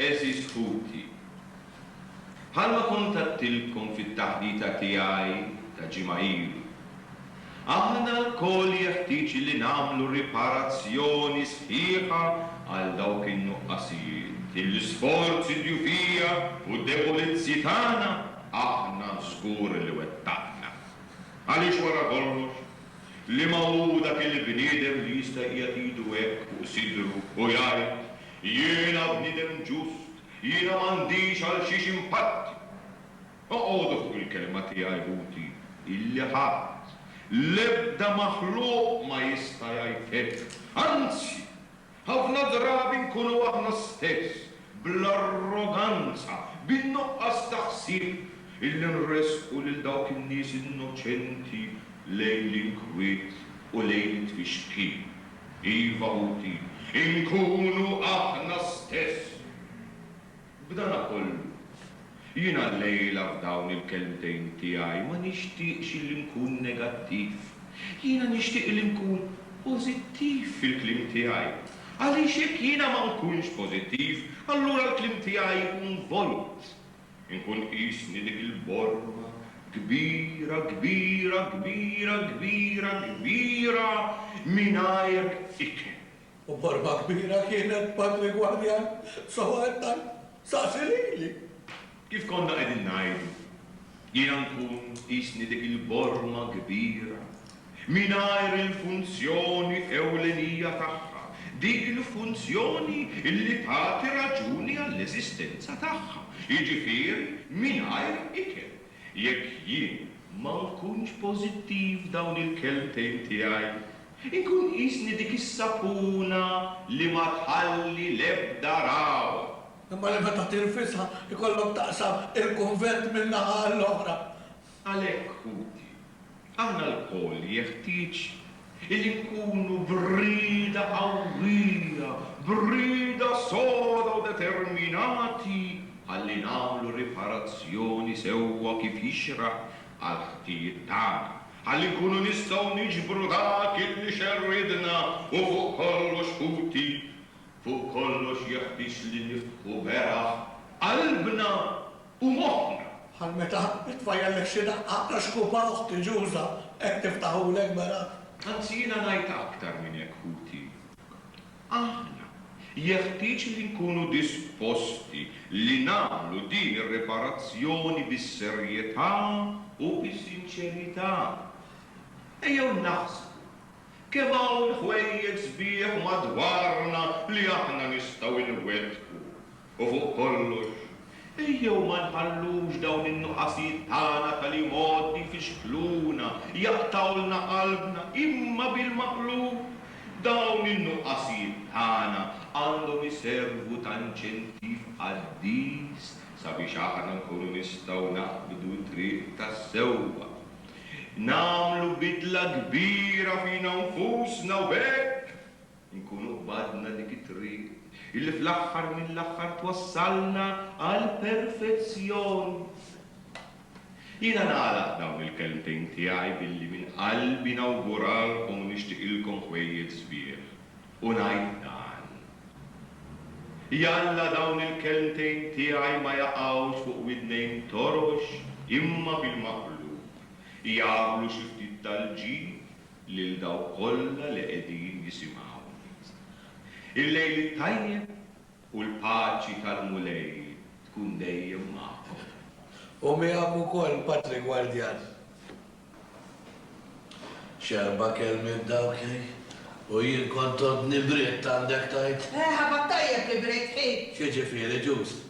Għeżież ħuti, bħalma kuntattilkom fit-taħdita tiegħi ta' ġimgħa ilu, aħna lkoll jeħtieġ li nagħmlu riparazzjoni sħiħa għal dawk in-nuqqasijiet, l-isforzi djufija u d-debolizzi tagħna aħna żgur li wettaqna. Għaliex wara kollox, liema hu dak il-bniedem li jista' jqiegħed idu hekk fuq sidru u jgħid, Jiena bniedem ġust, jiena m'għandix għalxiex inpatti. Oqogħdu fuq il-kelma tiegħi, ħuti, illi ħadd, l-ebda maħluq ma jista' jgħid hekk. Anzi, ħafna drabi nkunu aħna stess, bl-arroganza, bin-nuqqas ta' ħsieb, illi nressqu lil dawk in-nies innoċenti lejn l-inkwiet u lejn it-tfixkil. Iva Muti, inkunu aħna stess! B'dana kollu, jiena llejla f'dawn il-kelmtejn tiegħi ma nixtieqx illi nkun negattiv. Jiena nixtieq illi nkun pożittiv fil-kliem tiegħi. Għaliex jekk jiena ma nkunx pożittiv, allura l-kliem tiegħi jkun volut. Inkun qisni dik il-borma kbira, kbira, kbira, kbira, kbira mingħajr ikel. U borma kbira kienet, Patri Gwardjan? Sewwa qed tgħid? Saqsi lili! Kif konna qegħdin ngħidu, jiena nkun qisni dik il-borma kbira, mingħajr il-funzjoni ewlenija tagħha, dik il-funzjoni li tagħti raġuni għall-eżistenza tagħha, jiġifieri mingħajr ikel. Jekk jien ma nkunx pożittiv dawn il-kelmtejn tiegħi, inkun qisni dik is-sapuna li ma tħalli l-ebda ragħwa. Imma li meta tirfisha, ikollok taqsam il-kunvent min-naħa għall-oħra. Għalhekk, ħuti, aħna lkoll jeħtieġ illi nkunu b'rieda qawwija, b'rieda soda u determinati ħalli nagħmlu riparazzjoni sewwa kif jixraq għall-ħtijiet tagħna, ħalli nkunu nistgħu niġbru dak illi xerridna u fuq kollox, ħuti, fuq kollox jeħtieġ li niftħu beraħ qalbna U moħħna, bħal meta titfa' jgħallek xi daqqa ta' xkupa oħti ġuża, hekk niftaħulek, Berat. Anzi jiena ngħid aktar minn hekk ħuti. Aħna, jeħtieġ li nkunu disposti li nagħmlu din ir-riparazzjoni bis-serjetà u bis-sinċerità. Ejjew naħsbu kemm hawn ħwejjeġ sbieħ madwarna li aħna nistgħu nwettqu U fuq kollox, ejjew ma nħallux dawn in-nuqqasijiet tagħna ta' li għodd jfixkluna, jaqtgħulna qalbna, imma bil-maqlub, dawn in-nuqqasijiet tagħna għandhom iservu ta' inċentiv qaddis sabiex aħna nkunu nistgħu naqbdu t-triq tas-sewwa, nagħmlu bidla kbira fina nfusna u b'hekk, Inkunu qbadna dik it-triq illi fl-aħħar mill-aħħar twassalna għall-perfezzjoni. Jiena nagħlaq dawn il-kelmtejn tiegħi billi minn qalbi nawguralkom u nixtiqilkom ħwejjeġ sbieħ u ngħid dan, Jalla dawn il-kelmtejn tiegħi ma jaqgħux fuq widnejn torox imma bil-maqlub jagħmlu xi ftit tal-ġid lil dawk kollha li qegħdin jisimgħuni. Il-lejl it-tajjeb u l-paċi tal-Mulej tkun dejjem magħkom. U miegħek ukoll Patri Gwardjan. X'erba' kelmiet dawk hi! U jien kont għoddni bridt għandek tgħid? Ħabad tajjeb li bridt hi! X'jiġifieri ġust?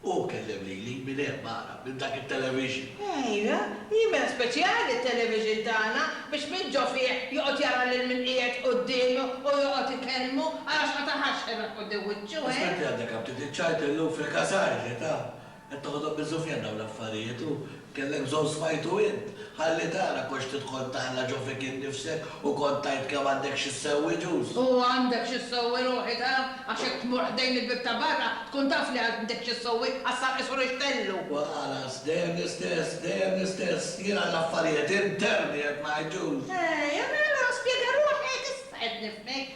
Hu kellem lili minn hemm ara, minn dak it-television. Ejja, jimel speċjali t-television tagħna biex min ġo fih joqgħod jara lil min qiegħed quddiemu u joqgħod ikellmu għalax ma taħax xena quddiem wiċċu, eh? Spetti għandek hawn ftit iċ-ċajt illum fil-kasar, ġiet hawn. Qed toħodhom biż-żufjan dawn l-affarijiet u Kellek bżonn smajtu int? Ħalli tara konx tidħol taħla ġo fik innifsek u kont tgħid kemm għandek xi ssewwi ġus. U għandek xi ssewwi ruħi ta? Għax jekk tmur ħdejn il-bieb ta' barra tkun taf li għandek xi ssewwi għax sar qisu rixxtellu. U ħalas, dejjem l-istess, dejjem l-istess. Jien għall-affarijiet interni qed ngħid ġus. Eja mela, spjega ruħek, issa qed nifhmek.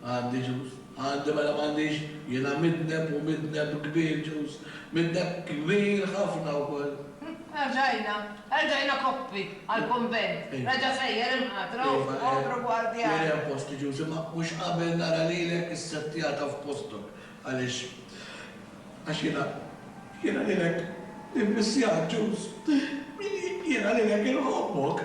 Għandi ġus, għandi mela m'għandix, jiena midneb u midneb kbir ġus, midneb kbir ħafna wkoll. Erġajna, erġajna koppi għall-kunvent, reġa' sejjer il-mħatra u kopru gwardjani. Iva, hemm post ġus, imma mhux qabel nara lilek issettjata f'postok, għaliex, għax jiena, jiena lilek immissjak ġus, jiena lilek inħobbok.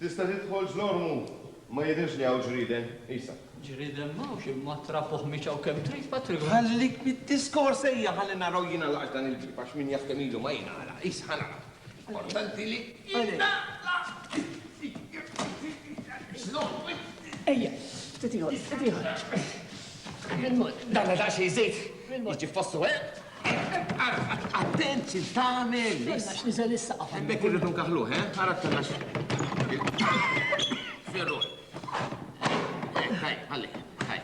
Tista' tidħol Ġlormu! Ma jidhirx li hawn ġrieden, qisha. Ġrieden m'hawnx imma trab u ħmieġ hawn kemm trid, Patriku. Ħallik mid-diskors, ejja ħalli naraw jingħalaqx dan il-bieb għax min jaħdem ilu ma jingħalaq. Qis, ħa naraw. Importanti li jingħalaq! Ġlormu! Ejja, ftit ieħor, ftit ieħor. Dana daqsxejn żejt jiġi f'postu, eh? Attent xi tagħmel! Stenna x'niżel is-saqaf. Hemmhekk irridu nkaħħluh, eh? Ara stenna x'. Ferruħ. Eh, ħaj, ħalli, ħaj.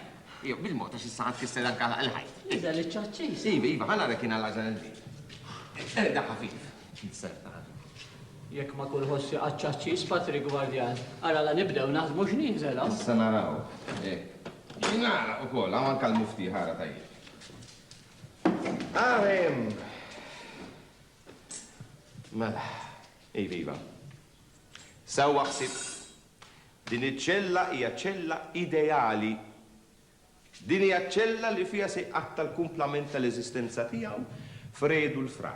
Jew bil-mod għax issa ħadd kisser anke l-ħajt. Niżel iċ-ċaċċis. Iva, iva, ħa nara kien għal għażel il-ġid. Erda ħafif. Inserta. Jekk ma kulħoss jaqgħad ċaċċis Patrik Gwardjan, ara la nibdew naħdmu x'niżel hawn. Issa naraw. Eh. Nara ukoll, hawn anke l-mufti ħara tajjeb. Ah, em. Mela, iva, iva. Sewwa ħsib. Din iċ-ċella hija ċella ideali. Din hija ċ-ċella li fiha se jqatta' l-kumplament tal-eżistenza tiegħu f'redu l-fra.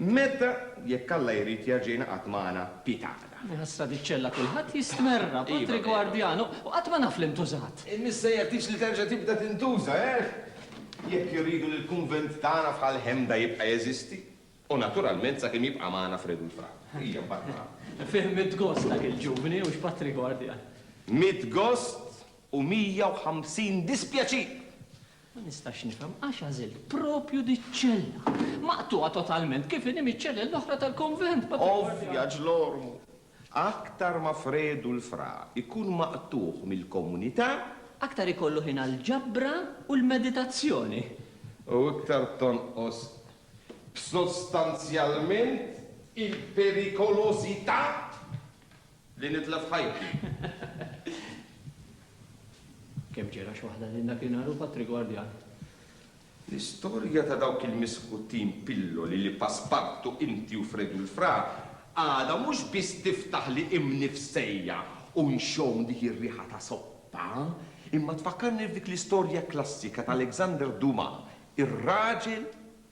Meta, jekk Alla jrid, jerġa' jingħaqad magħna Pi tagħna. Hi ħasra diċċella kulħadd jistmerra, patri gwardjan, u qatt ma naf li ntużat. Missa jeħtieġ li terġa' tibda tintuża, eh? Jekk irridu li l-kunvent tagħna f'Ħal Ħemda jibqa' jeżisti, u naturalment sakemm jibqa' magħna Fred u l-Fra. Ejja, mbagħad naraw. Fih mitt gost dak il-ġuvni, hux patri gwardjan? Mitt gost u mija u ħamsin dispjaċir! Ma nistax nifhem għax għażilt proprju diċ-ċella, maqtugħa totalment kif inhi miċ-ċellel l-oħra tal-konvent. Ovvja, Ġlormu. Aktar ma Fredu l-Fra jkun maqtugħ mill-komunità. Aktar ikollu ħin għall-ġabra u l-meditazzjoni. U iktar tonqos sostanzjalment il-perikolożità. Li nitlef ħajti. Kemm ġera x'waħda lil dakinhar u Patri Gwardjan. L-istorja ta' dawk il-miskuttin pilloli li Paspartu, inti u Fredu l-Fra għadha mhux biss tiftaħli imni f'sejja u nxomm dik ir-riħa ta' soppa, imma tfakkarni f'dik l-istorja klassika ta' Alexander Dumas, ir-raġel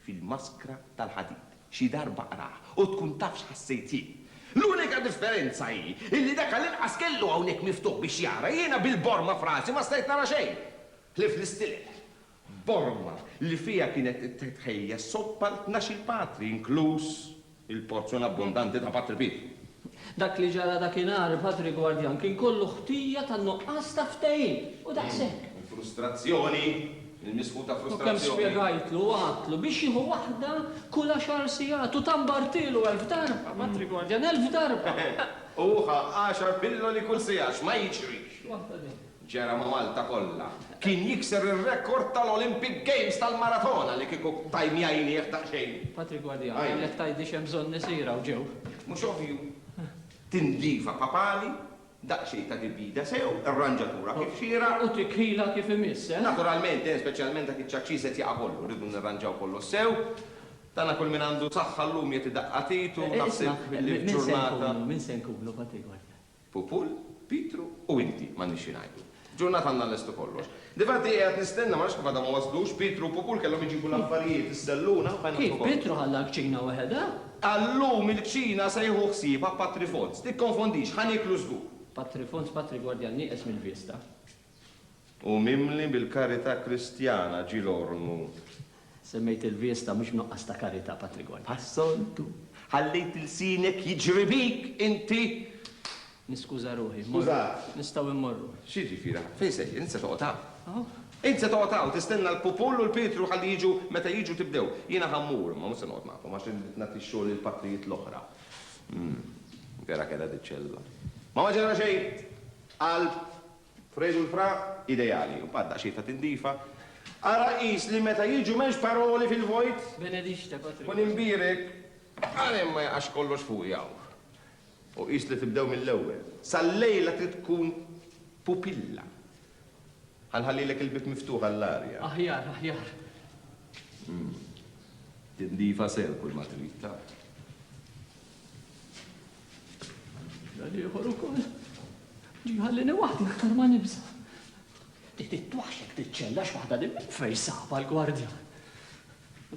fil-maskra tal-ħadid. Xi darba qrah u tkun taf x'ħassejt jien. L-unika differenza hi illi dak għall-inqas kellu hawnhekk miftuħ biex jara, jiena bil-borma f'rasi ma stajt nara xejn, ħlief l-istilel. Borma li fiha kienet titħejja s-soppa għal tnax-il patri, inkluż il-porzjon abbundanti ta' Patri Pit. Dak li ġara dakinhar, il-Patri Gwardjan kien kollu ħtija tan-nuqqas ta' ftehim, u daqshekk. Il-frustrazzjoni, il-misħu ta' frustrazzjoni. U kemm spjegajtlu u għadtlu biex jieħu waħda kull għaxar sigħat, u tambartielu elf darba, Patri Gwardjan, elf darba! U hu ħa għaxar pilloli kull siegħa, x'ma jiġrix! Waħda din. ġara ma' Malta kollha. Kien jikser ir-rekord tal-Olympic Games tal-maratona li kieku tajni għajnieh daqsxejn. Patrick Guardia, kellek tgħidli x'hemm bżonn isir hawn ġew. Mhux ovvju? Tindlifa papali, daqsxejn ta' dibjida sew, irranġatura kif xieraq. U tikħilha kif imiss, eh? Naturalment, eh, speċjalment dak iċ-ċaċċis qed jaqa' kollu, rridu nirranġaw kollox sew. Tagħna kull min għandu saħħa llum jagħti daqqa t'id u naħseb li f'ġurnata. Isma', min se nkunu? Min se nkunu, Patrick Guardia? Pupul, Pietru u inti, m'għandniex xi ngħidu. Ġurnata għandna nlestu kollox. Difatti qiegħed nistenna, ma nafx kif għadhom ma waslux, Pietru u Pupul kellhom iġibu l-affarijiet, is-selluna, f'għajn l-oħra kollox. Kif, Pietru ħalla l-kċina weħedha? Għal-lum il-kċina se jieħu ħsiebha Patri Fons. Tikkonfondix, ħa nieklu żgur. Patri Fons, Patri Gwardjan nieqes mill-vista. U mimli bil-karità Kristjana, ġie l-ormu. Semmejt il-viesta mhux b'nuqqas ta' karità, Patrick White. Bħas-soltu, ħallejt ilsienek jiġri bik, inti! Niskuża ruħi, immorru. Skużat. Nistgħu immorru. X'jiġifieri, ħa? Fejn sejjer? Int se toqgħod hawn? Hawn. Int se toqgħod hawn, tistenna l-Pupull u l-Pietru ħalli jiġu, meta jiġu tibdew. Jiena ħa mmur, imma mhux se noqgħod magħkom, għax irrid nagħti x-xogħol lill-patrijiet l-oħra. Vera kellha din ċellula. Ma ma ġara xejn! Qalb, Fredu l-fra, ideali, u mbagħad daqsxejn ta' tindifa. Ara qis li meta jiġu m'hemmx paroli fil-vojt. Benedicite, Patri. U ninbierek għalkemm ma jaqax kollox fuqi hawn. U qis li tibdew mill-ewwel. Sal-lejla trid tkun pupilla. Ħa nħallilek il-bieb miftuħ għall-arja. Aħjar, aħjar. Tindifa sew kull ma trid, taf. Dal-ieħor ukoll ġiħallini waħdi aktar ma nibża. Dit it-twaxek tiċċella x'waħda din minn fejn saba l-gwardja.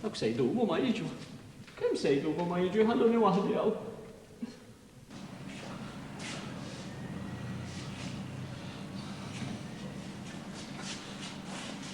Dak se jdumu ma jiġu. Kemm se jdumu ma jiġu jħalluni waħdi hawn.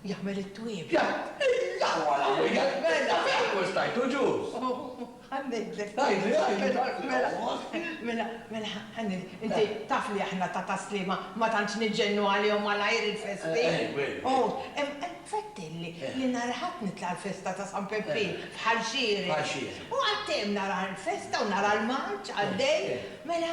Jagħmel it-twiebi. Jgħid, Illa huwa l-Aħwa, jgħid, Mela fejn hu s-sajd u ġust? U ħa ngħidlek. Għidli, għidli. Mela, mela, mela, ħa ngħidlek. Inti taf li aħna ta' Tas-Sliema ma tantx niġġennu għalihom malajr il-festi. U infettilli li nhar il-Ħadd nitla' għall-festa ta' San Peppin bħal xieraq. U qattejjem nara l-festa u nara l-marċ għaddej. Mela,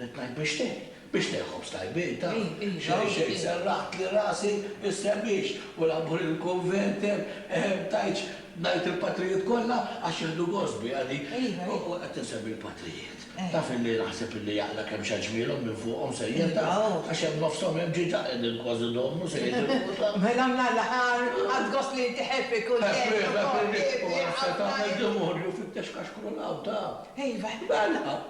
Ridt ngħid biex tgħin, biex tgħin ħobż tajbietha. Serraħtli rasi, issemmix, u l-ammur il-kunvent hemm, tajtx ngħid il-patrijiet kollha għax jieħdu gost biha di. U qed insemmi l-patrijiet. Taf illi naħseb illi jaqla' kemm xa ġmielhom minn fuqhom sejjeda, għax hemm nofshom hemm ġiġa qegħdin kważi idommu se jitilqu ta'. Mela minn l-aħħar, għad gost li inti ħebbi kull kelma u korri. U għad se tagħmel demonju fittex kaxkru l-għawda. Iva. Mela.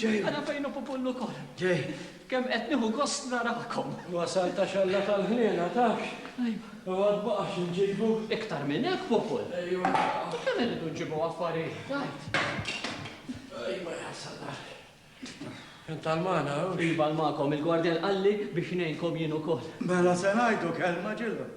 Ġej. Ara fejn hu Pupullu wkoll. Ġej. Kemm qed nieħu gost narakom. Wasal ta' xalla tal-ħniena, tafx? Ajwa. U għad baqa' xi nġibu. Iktar minn hekk, Pupull. Ejwa. U kemm irridu nġibu affarijiet, għid. Ejwa jasalla. Int għal magħna, hux? Iva għal magħkom, il-gwardjan qalli biex ngħinkom jien ukoll. Mela se ngħidu kelma ġilhom.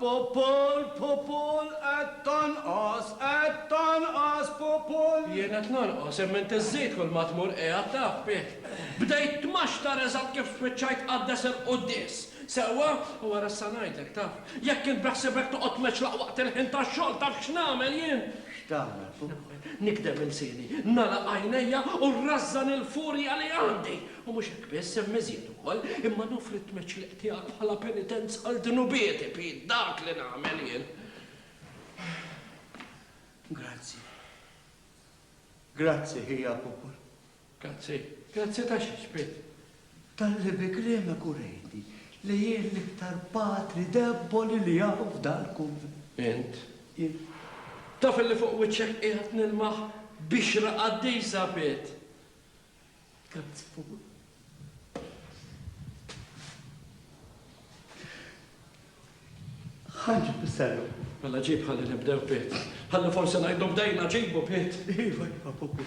Pupul, pupul, qed tonqos, qed tonqos, pupul! Jien qed nonqos, imma int iżżid kull ma tmur qiegħed taf bih. Bdejt tmaxtar eżatt kif spiċċajt tqaddes il-quddies. Sewwa? U wara issa ngħidlek, taf. Jekk int beħsibek toqgħod tmeċlaq waqt il-ħin tax-xogħol, taf x'nagħmel jien? X'tagħmel, pupul? Nagħmel, nikdem ilsieni, nagħlaq għajnejja u nrażżan il-furja li għandi! U mhux hekk biss, hemm iżjed ukoll, imma noffri t-tmeċliq tiegħek bħala penitenza għal dnubieti, Pete, dak li nagħmel jien. Grazzi. Grazzi, ħija popol. Grazzi. Grazzi ta' xiex, Pete. Tal-li bi kliemek u rejti li jien l-iktar patri debboli li jaf dal-kunvent. Int? Jien. Taf li fuq wiċċek qiegħed nilmaħ biex raqaddisa, Pete. Ħanġib bis-serru. Mela ġib ħalli nibdew bit. Ħalli forsi ngħidu bdejna ġibu bit. Iva, iva, pupu.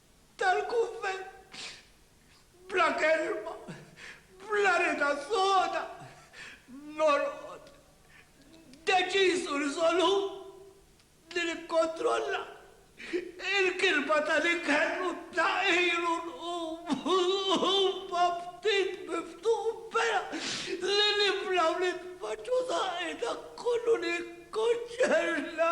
tal-kunvent, bla kelma, bla rieda soda, norqod, deċiż u riżolut li nikkontrolla l-kirba tal-ikel u t-tagħqir u nqum ma' ftit miftux bera li nibla' u nitfaċċa' u tagħqi dak kollu li jikkonċerna.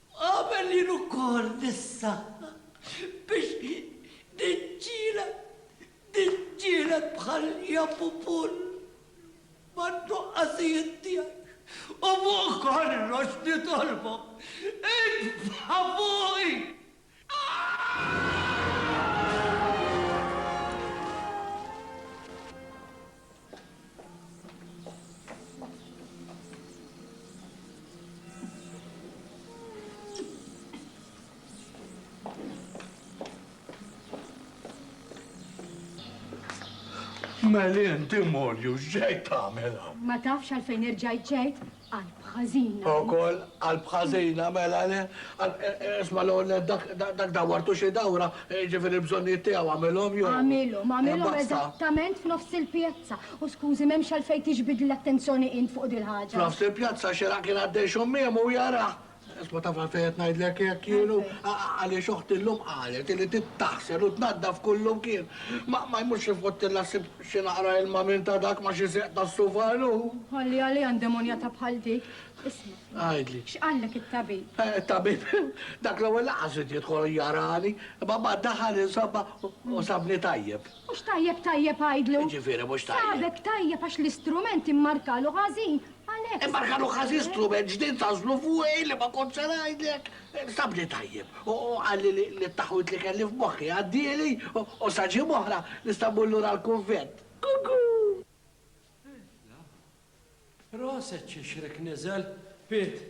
Qabel jien ukoll nissaħħaħ biex niġġieled, niġġieled bħal Japupull man-nuqqasijiet tiegħi u fuq kollox nitolbok, itfa' fuqi Meli inti Morju, x'ġejt tagħmel hawn? Ma tafx għalfejn irġajt ġejt? Qalb ħażina. Ukoll qalb ħażina, mela le. Isma' l-ewwel nett dak dak dawwartu xi dawra, jiġifieri l-bżonnijiet tiegħu għamilhom jew. Għamilhom, għamilhom eżattament f'nofs il-pjazza. U skużi, m'hemmx għalfejn tiġbidli l-attenzjoni int fuq dil-ħaġa. F'nofs il-pjazza xieraq kien għaddej x'għommiem u jarah Isma' tafal fejn qed ngħidlek hekk kienu, għaliex oħti llum qalet li trid taħsel u tnaddaf kull imkien. Ma jmurx jifgħottilha ssib xi naqra ilma minn ta' dak ma' xi seq tas-sufalu? Ħalli għaliha ndemonjata bħal dik. Isma'. Għidli. X'qallek it-tabib? It-tabib? Dak l-ewwel laqas ried jidħol jarani, imma mbagħad daħal insomma u sabni tajjeb. Mhux tajjeb tajjeb għidlu? X'jiġifieri mhux tajjeb? Sabek tajjeb għax l-istrument immarkalu ħażin Għalhekk. Imma Rkanu ħażi strument ġdid għażlu fuqi li ma kontx se ngħidlek. Stabni tajjeb u qalli li t-taħwid li kelli f'moħħi għaddieli u sa ġimgħa oħra nista' mmur lura l-kunvent. Kuku! Tifla! Proset xi xrek niżel, Pit!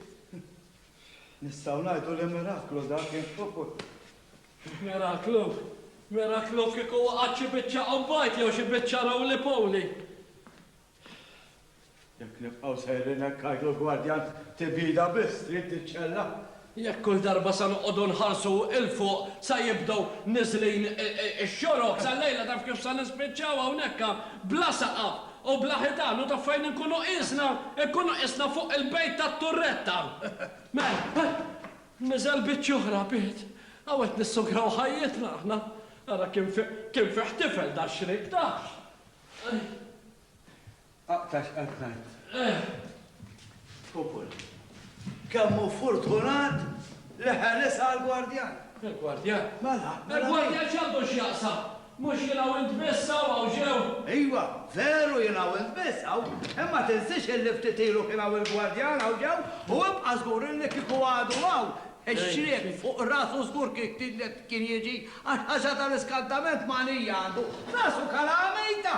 Nistgħu ngħidu li miraklu dak, eh? Miraklu? Miraklu kieku waqgħet xi biċċa qombajt jew xi biċċa rowlipowli! Jekk nibqgħu sejrin hekk għidu l-gwardjan tibida biss trid tiċċella. Jekk kull darba se noqogħdu nħarsu 'l fuq sa jibdew niżlin ix-xorok sal-lejla taf kif se nispiċċaw hawnhekk bla saqaf u bla ħitan u taf fejn inkunu qisna? Inkunu qisna fuq il-bejt tat-turretta. Mela, niżel biċċ oħra bied. Hawn qed nissugraw ħajjitna aħna. Ara kien fih tifel dax-xriq tafx. Aqta' x'qed tgħid. Popol. Kemm hu fortunat li ħeles għall-gwardjan. Il-gwardjan? Mela, mela. Il-gwardjan x'għandu x'jaqsam? Mhux jien hawn int biss hawn hawn ġew. Iva, veru jien hawn int biss hawn, imma tinsiex illi ftit ilu kien hawn il-gwardjan hawn ġew u ibqa' żgur illi kieku għadu hawn, ix-xriek fuq rasu żgur kien kien jiġi Għall-ħaxar tal-iskantament Malija għandu f'rasu kalamita!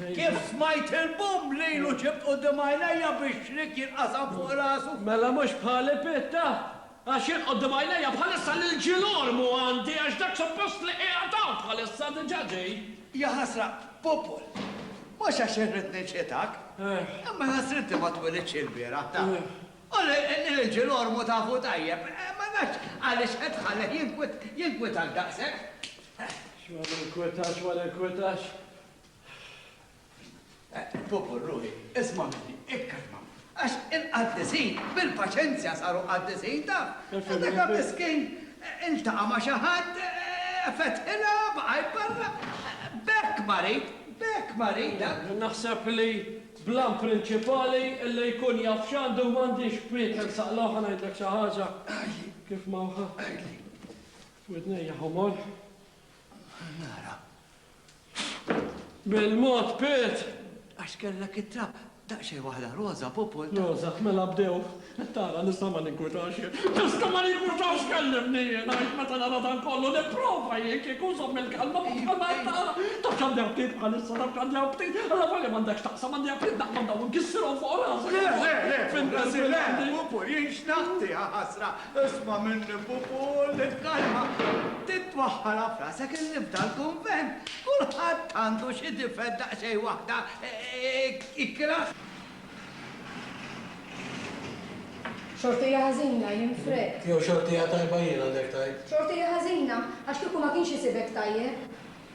Kif smajt il-bumm lilu ġibt quddiem għajnejja bix-xrik jinqasam fuq rasu. Mela mhux bħali Pitta? Għax jien quddiem għajnejja bħalissa lil Ġil Ormu għandi għax dak suppost li qiegħed hawn bħalissa diġà ġej. Jaħasra, Pupul! Mhux għax irrid niċħitak, imma ħasrinti ma twilidtx ilbieraħ, taf. U l-irġiel ormu tafu tajjeb. Ma nafx għaliex qed tħallih jinkwietak daqshekk. Xi ma ninkwetax, ma ninkwetax. Popol, ruħi, isma' minni, ikkalma. Għax il-qaddisin bil-paċenzja saru qaddisin, taf. Dak miskin iltaqa' ma' xi ħadd, fetħilha, baqa' jparla. B'hekk marid, b'hekk marid. Naħseb li Bl-għan prinċipali li jkun jaf x'għandu u m'għandiex f'wied tersaq logħob ħa ngħidlek xi ħaġa kif mgħawha f'widnejja ħomor. Nara. Bil-mod Pit! Għax kellek it-trab daqsxejn waħda roża, Pupult. Roża, mela bdew. Qed tara li sa ma ninkwitax jien. Iżda ma ninkwitax kellimni jien, għax meta nara dan kollu nipprova jien kieku nżomm il-kelma u bħal ma qed tara, tafx għandi aptit bħalissa, tafx għandi aptit, allavolja m'għandekx taqsam, għandi aptit naqbad dawn u nkissirhom fuq rasi! Le, le, le, Pupu, le, le, Pupu, jien x'nagħti, jaħasra! Isma' minni, Pupu, ħulli l-kalma! Titwaħħalha f'rasek illi f'dal kunvent kulħadd għandu xi difett daqsxejn waħda ikrah! Xortija ħażina, jien frett. Jew xortija tajba jien, għandek tgħid? Xortija ħażina, għax kieku ma kienx isibek tajjeb.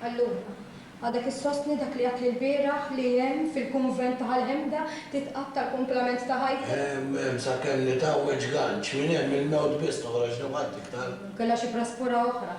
Allura, għadek issostni dak li għedt l-bieraħ li hemm fil-kunvent ta' Ħal Hemda titqatta' l-kumplament ta' ħajtek? Hemm, hemm sakemm nitgħawweġ ganċ. Minn hemm il-mewt biss toħroġni b'ħadd iktar. Jew kellha xi praspura oħra.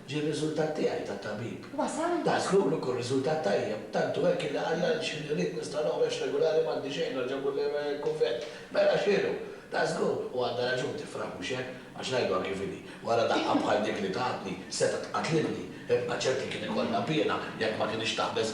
Ġie r-riżultat tiegħi ta' tabib. Wasal? Daqs li hu li jkun riżultat tajjeb, tant hu hekk illi qallha li x'ħin irrid nista' noħroġ regulari m'għandi xejn nerġa' mmur lejn il-kunvent. Mela x'inhu? Ta' żgur, u għandha raġun tifraħ mhux hekk? Għax ngħidluha kif inhi, wara daqqa bħal dik li tatni, setgħet tqatlilni. Ibqa' ċert li kien ikollha piena jekk ma kinitx taqbeż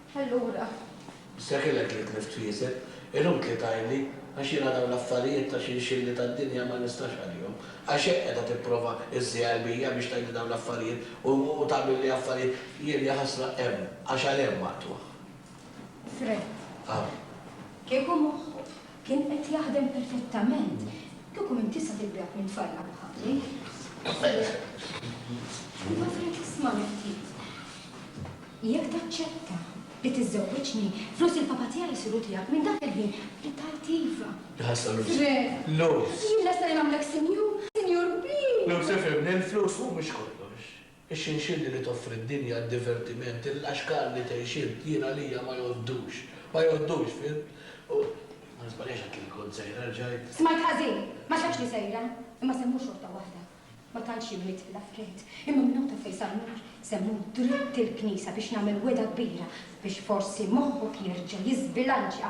Allura. Seħħilek li tlift f'jiesek, inutli tgħidli, għax jiena dawn l-affarijiet ta' xinxilli tad-dinja ma nistax għalihom. Għax hekk qiegħda tipprova iżżi qalbija biex tgħidli dawn l-affarijiet u u tagħmilli affarijiet, jien jaħasra hemm, għax għal hemm maqtugħ. Fred. Hawn. Kieku moħħu. Kien qed jaħdem perfettament. Kieku m'int tista' tibbiegħek minn tfajlaq bħali. Imma Frank ismagħni ftit. Jekk taċċetta li tiżżewwiġni, flus il-papa tiegħi jsiru tiegħek minn dak il-ħin li tgħid iva. Iħassar Luz. Frank. Luz. Jien lesta li nagħmlek sinjur, sinjur kbir! Luz, ifhimni, il-flus mhumiex kollox. Ix-xinxilli li toffri d-dinja għad-divertiment, il-laxkar li tgħix int, jien għalija ma jgħoddux. Ma jgħoddux, fhimt? U. Ma niżbaljax għedt li kont sejra, rġajt. Smajt ħażin! Ma xedtx li sejra, imma semmu xorta waħda. Ma tantx jien nidħil affarijiet, imma minn hawn ta' fejn sa l-mur, semmu dritt il-knisja biex nagħmel wegħda kbira biex forsi moħħok jerġa' jiżbilanċja.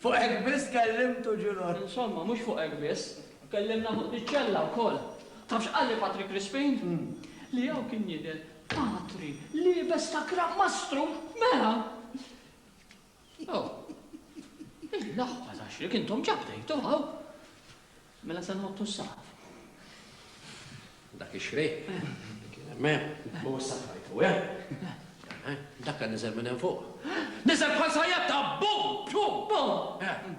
Fuq hekk biss kellimtu Ġilgħod? Insomma, mhux fuq hekk biss, kellimna fuq diċ-ċella wkoll. Taf x'qalli Patri Crispin? Li hawn kien jidher Patri liebes ta' Gran Mastru! Mela! Oh, il-laħba ta' xrik intom ġa bdejtu hawn! Mela se nħottu s-saqaf. Dak ix-xrejn li kien hemm hemm, u issa tħajtu, eh? Dak kien niżel minn hemm fuq. Niżel bħal sajjatta, bum! Bum! Bum!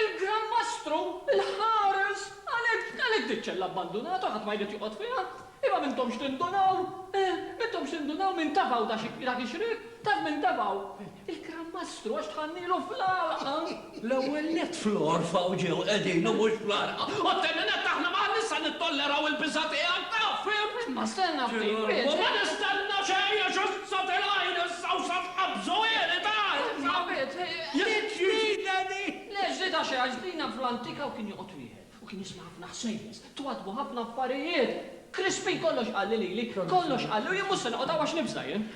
Il-Gran Mastru, il-Ħares, għalhekk, għalhekk diċ-ċella abbandunata, ħadd ma jrid joqgħod fiha. Imma m'intomx tindunaw? Eħ, m'intomx tindunaw min tafgħu dak xi, dak ix-xrieb? Taf min tafgħu? Il-Gran Mastru, għax tħannilu fl-għalqa! L-ewwel nett fl-għorfa u ġew qegħdin u mhux fl-għalqa. U t-tieni nett aħna ma għandniex sa nittolleraw il-biża' tiegħek, taf, fimt? Imma stenna ftit, wieġeb! U ma nistenna xejn għax issa tilgħajr issa u sa tqabbżu għiri, taf, sa, jekk trideni! Le, ġdida xejn, għax ġdina fl-antika u kien joqgħod wieħed. U kien jisma' ħafna ħsejjes. Twaddbu ħafna affarijiet. Krispin kollox qalli lili. Kollox qalli u jien mhux se noqgħod hawn għax nifża jien.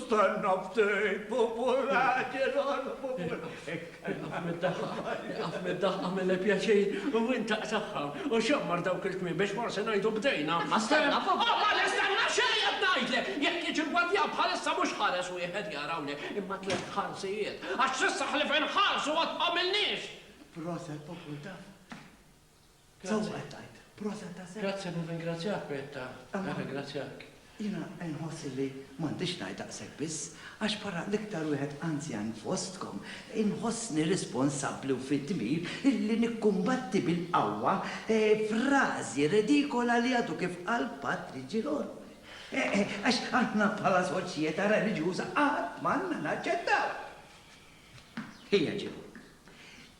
Stenna ftit, pupu raġel, ħana pupu raġel. Iqaf mid-daħqa. Iqaf mid-daħqa mille pjaċir u intaq saħħa u xammar dawk il-kmiem biex forsi ngħidu bdejna. Imma stenna, pupu. O, ma nistenna xejn qed ngħidlek! Jekk jiġi l-gwardjan bħalissa mhux ħares wieħed jara hawnhekk imma tliet ħarsijiet. Għax s'issa ħlief inħarsu għad m'għamilniex! Proset populta. Sewwa tajt. Proset ta' sewwa. Grazzi u ringrazzjak Petta. Ringrazzjak. Jina nħossi li m'għandix ngħid daqshekk biss, għax para l-iktar wieħed anzjan fostkom, inħossni responsabbli u fid-dmir illi nikkumbatti bil-qawwa eh, frażi redikola li għadu kif qal Patri Ġilor. Eh, eh, għax aħna bħala soċjetà reliġjuża qatt m'għandna naċċettaw. Hija ġew.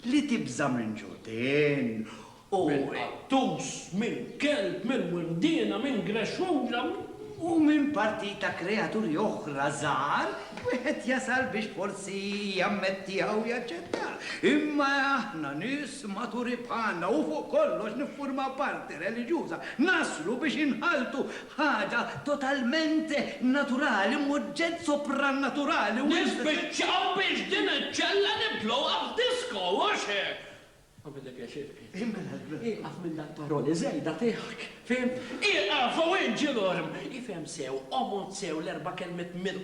Li tibża' minn ġudien u. Minn qattus, minn kelb, minn windiena, minn grexxunġa, minn. U minn partit ta' kreaturi oħra żgħar, wieħed jasal biex forsi jammettieha u jaċċettaha. Imma aħna, nies maturi bħalna u fuq kollox niffurmaw parti reliġjuża, naslu biex inħalltu Ħaġa totalment naturali, m'oġġett soprannaturali u. Nispiċċaw biex din iċ-ċella nibdluha f'disko, hux hekk? Għamillek pjaċir, Chris. Mela, ieqaf minn dal paroli żejda tiegħek, fhimt? Ieqaf u inġi lurm! Ifhem sew, omod sew l-erba' kelmiet mir.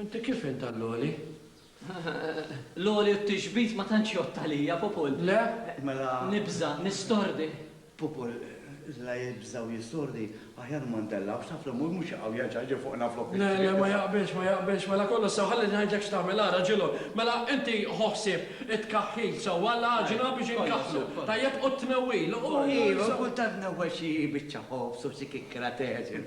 Inti kif int għall-għoli? L-għoli u t-tixbit ma tantx jgħodd għalija, Pupul. Le? Mela. Nibża', nistordi. Pupul, la jibża' u jistordi, aħjar ma ntellgħux, taf li Mul mhux jaqaw jerġa' jiġi fuqna flok it-triq. Le, le, ma jaqbilx, ma jaqbilx. Mela kollu sew, ħalli ngħidlek x'tagħmel, ara, ġilhom. Mela, inti ħu ħsieb it-tkaħħil sewwa, l-għaġina biex inkaħħlu, tajjeb, u t-tnewwil, u. Iva, kultant tnewwel xi biċċa ħobż u xi kikkra t'għeġin.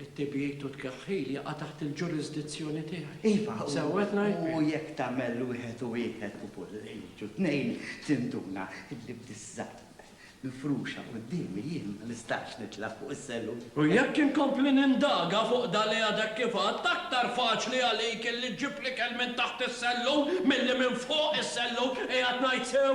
It-tibjid u t-tkeħħil jaqa' taħt il-ġurisdizzjoni tiegħi. Iva, u. Sew qed ngħid? U jekk tagħmel wieħed u wieħed u kull jiġu tnejn, tinduna illi b'disgħa mifruxa quddiemi jien ma nistax nitla' fuq is-sellum. U jekk inkompli nindaga fuq dan li għadek kif għedt, aktar faċli għalik illi ġġib l-ikel minn taħt is-sellum milli minn fuq is-sellum, qiegħed ngħid sew?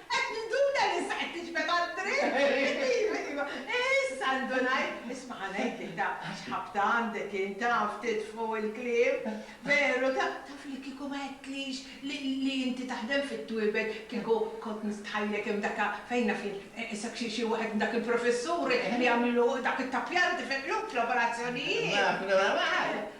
Qed ninduna li issa qed tiġbed għat-triq! Iva, iva, issa ndunajt! Isma' ħa ngħidlek, ta' x'ħabta għandek int, taf titfu' l-kliem! Veru, ta' taf li kieku ma għedtlix li li inti taħdem fit-twiebel, kieku kont nistħajjlek hemm dak a fejn naf jien, issa xi xi waħed minn dak il-professuri li jagħmlu dak it-tappjar, tifhem, l-operazzjonijiet! Naf, naf,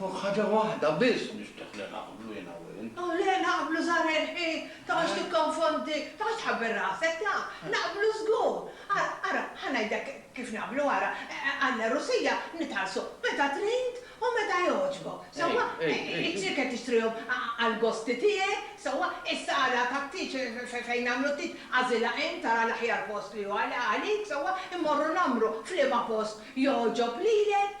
Fuq ħaġa waħda biss nixtieq li naqblu jien u int. Oh le, naqblu żahar il-ħin, toqgħodx tikkonfondi, toqgħodx tħabbel rasek, ta. Naqblu żgur. Ara, ara, ħa ngħidlek kif naqblu, ara, għall-għerusija nitħallsu meta trid u meta jogħġbok, sewwa? It-tieker qed tixtrihom għall-gosti tiegħek, sewwa? Is-sala tat-tieġ fejn nagħmlu t-tieġ agħżilha int, tara l-aħjar post li hu għalik, sewwa? Immorru nagħmru f'liema post jogħġob lilek,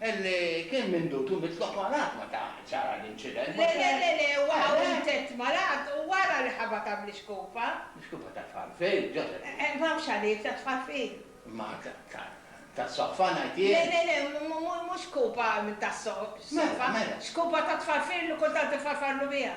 Li kien mindut u mitlok malgħat meta ġara l-inċident. Le, le, le, le, huwa ħahu mtett malgħat u wara li ħabha ta' ml-ixkupa. L-ixkupa ta' Tfarfir, Joseph. Eħe, ma hawnx għalih, ta' Tfarfir. Ma tas-soqfa ngħid jien. Le, le, le, mhux xkupa tas-soqfa. Mela, mela. Xkupa ta' Tfarfir li kultant ifarfarlu biha.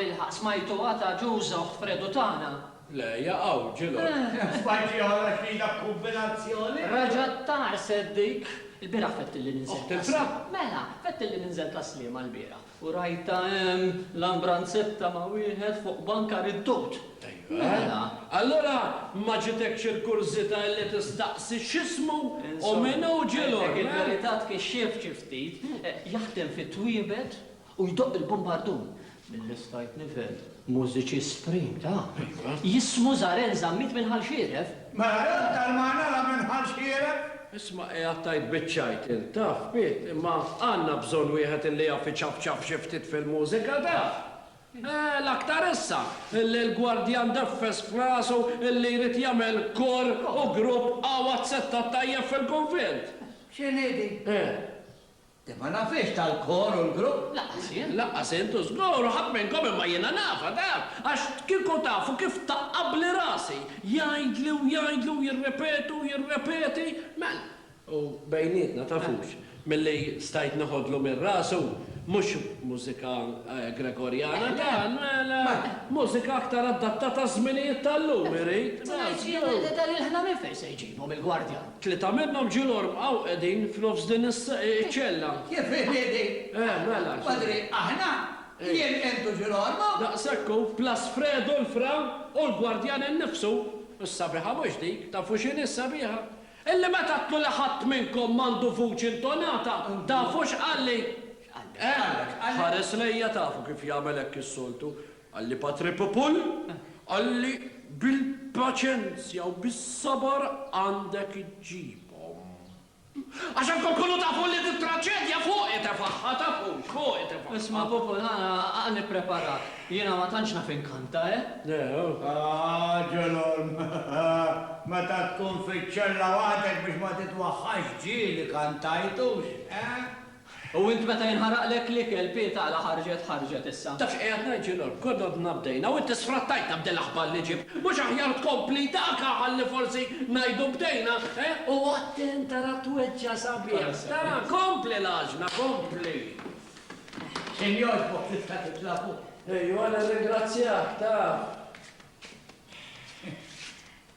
Bilħaq smajtu għata ġużoħ fredu tagħna. Le, jaqaw, ġilo. Spajti għara xrida kombinazzjoni. Raġat tar seddik. Il-bira fett li ninżel. Oħt il-fra? Mela, fett li ninżel taslima l-bira. U rajtha hemm l-ambranzetta ma' wieħed fuq banka riddut. Mela, allura ma ġitekx il-kurżità illi tistaqsi x'ismu u min hu Ġilor? Insomma, il-verità tkixxief xi ftit. Jaħdem fit-twiebet u jdoqq il-bumbardun, mill-istajt nifhem. Mużiċi Supreme ta' jismu Zarel Zammit minn Ħal Xieref. Mela dan tal-magħna la minn Ħal Xieref? Isma' qiegħed tgħid biċ-ċajt int, taf, Piet, imma għandna bżonn wieħed illi jaf iċapċap xi ftit fil-mużika, taf. Eh, l-aktar issa, illi l-gwardjan deffes f'rasu illi jrid jagħmel kor u grupp għawad settat tajjeb fil-kunvent. X'inhi din? Eh. Le ma nafhiex tal-kor u l-grupp, lanqas jien, lanqas int u żgur ħadd minnkom imma jiena nafha, taf, għax kieku tafu kif taqqabli rasi, jgħidli u jgħidli u jirrepeti u jirrepeti, mela. U bejnietna, tafux, milli stajt neħodlu minn rasu, mhux mużika Gregorjana dan, mela, mużika aktar adattata għaż-żminijiet tal-lum irid, mela, żgur. Ħsibx jiena li dan il-ħna nifel se jġibu mill-gwardjan. Tlieta minnhom ġiel ormqaw qegħdin f'nofs din iċ-ċella. Kif inidi? Eh, mela. Padri, aħna? Jien, int u ġiel ormqu? Daqshekk hu, plus Fredo l-fra u l-gwardjan innifsu. Is-sabiħa mhux dik, tafu x'inhi s-sabiħa? Illi meta għedtlu li ħadd minnkom m'għandu vuċi intonata, tafu x'qalli? X'qallek? X'qallek? Ħares lejja, tafu kif jagħmel hekk is-soltu, Qalli Patre Popul, qalli bil-paċenzja u bis-sabar għandek iġġibhom. Għax hemm kulkunu tafu li t-traċedja fuqi tefagħha, tafux, fuqi tefagħha. Isma' Popul, qalli Preparat, jiena ma tantx naf inkanta, eh? Ah, Ġolon, meta tkun fiċ-ċella waħdek biex ma titwaħħax ġieli kantajtux, eh? U int meta jinħaraqlek l-ikel, pieta għala ħarġet, ħarġet issa. Taf x'qiegħed ngħid, Ġilgħon? Gododna bdejna u inti sfrattajtna b'dil aħbar li ġibt. Mhux aħjar tkompli dak, ha, ħalli forsi ngħidu bdejna, he? U attent tara tweġġa' sabiħ. Tara, kompli l-għaġna, kompli. Xejn jogħġbok tista' titla' fuq. Ejwa, nirringrazzjak, taf.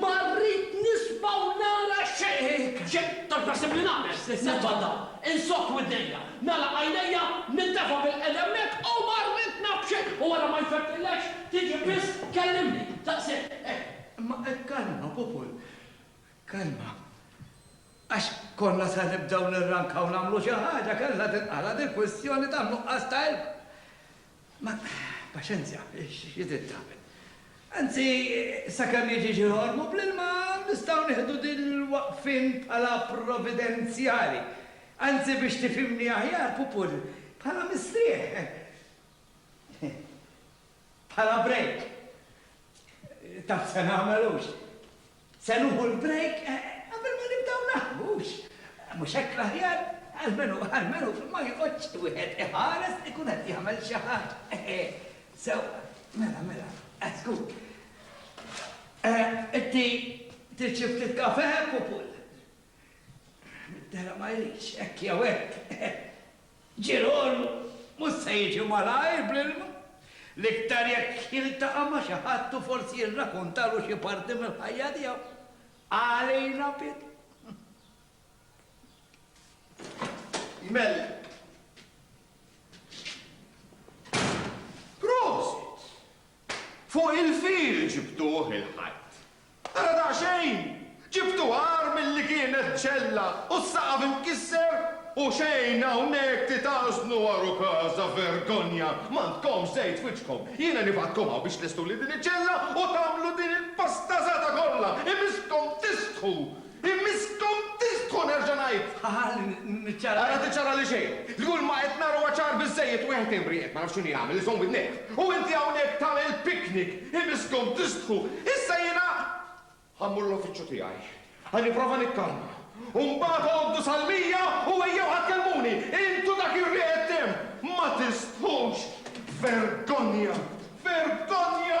Ma rrid nisma' u nara xejn! Xejn! Tant taħseb li nagħmel? Nitfadda, insokk widnejja, nagħlaq għajnejja, nintefa' bil-qiegħda hemmhekk u ma rrid naf xejn! U wara ma jfettilekx, tiġi biss tkellimni! Daqshekk, hekk! Imma kalma, Pupun, kalma. Għax konna se nibdew nirrankaw nagħmlu xi ħaġa, kellha tinqala' dil-kwistjoni tan-nuqqas ta' ilma. Ma, paċenzja, xi trid tagħmel? Anzi, sakemm jiġi xi ħormu bl-ilma nistgħu nieħdu din il-waqfien bħala provvidenzjali. Anzi biex tifhimni aħjar, Pupur, bħala mistrieħ. Bħala break. Taf se nagħmel hux? Se nuħu l-break qabel ma nibdew naħdmu, hux? Mhux hekk l-aħjar? Almenu, almenu ma joqgħodx wieħed iħares ikun qed jagħmel xi ħaġa. Sewwa, mela, mela, żgur. Inti trid xi ftit kafe, pupul? Middera ma jridx, hekk jew hekk. Ġirol mhux se jiġi malajr bl-ilma, l-iktar jekk jiltaqa' ma' xi ħadd u forsi jirrakuntalu xi parti mill-ħajja tiegħu. Għalina bidu. Jmellem. Prosit! Fuq il-fil ġibtuh il-Ħadd. Ara daqsxejn! Ġibtu agħar milli kienet ċella u s-saqaf imkisser u xejn hawnhekk titgħażnu għar u każa, vergonja! M'għandkomx żejt f'wiċċkom! Jiena nibgħatkom hawn biex tlestuli din iċ-ċella u tagħmlu din il-pastazata kollha! Imisskom tistħu! Bi miskom tisħu, nerġa' ngħid! Ħa niċċara. Ara tiċċara li xejn! Li kull ma qed nara huwa ċar biżżejjed, wieħed imri, qed ma naf x'inhu jagħmel, iżomm widnejh. U inti hawnhekk tagħmel piknik! Hi miskom tistħu! Issa jiena ħa mmur l-uffiċċju tiegħi. Ħa nipprova nikkalma. U mbagħad għoddu sal-mija u ejjew ħa tkellmuni! Intu dak ir-riħet tim! Ma tistħux! Vergonja! Vergonja!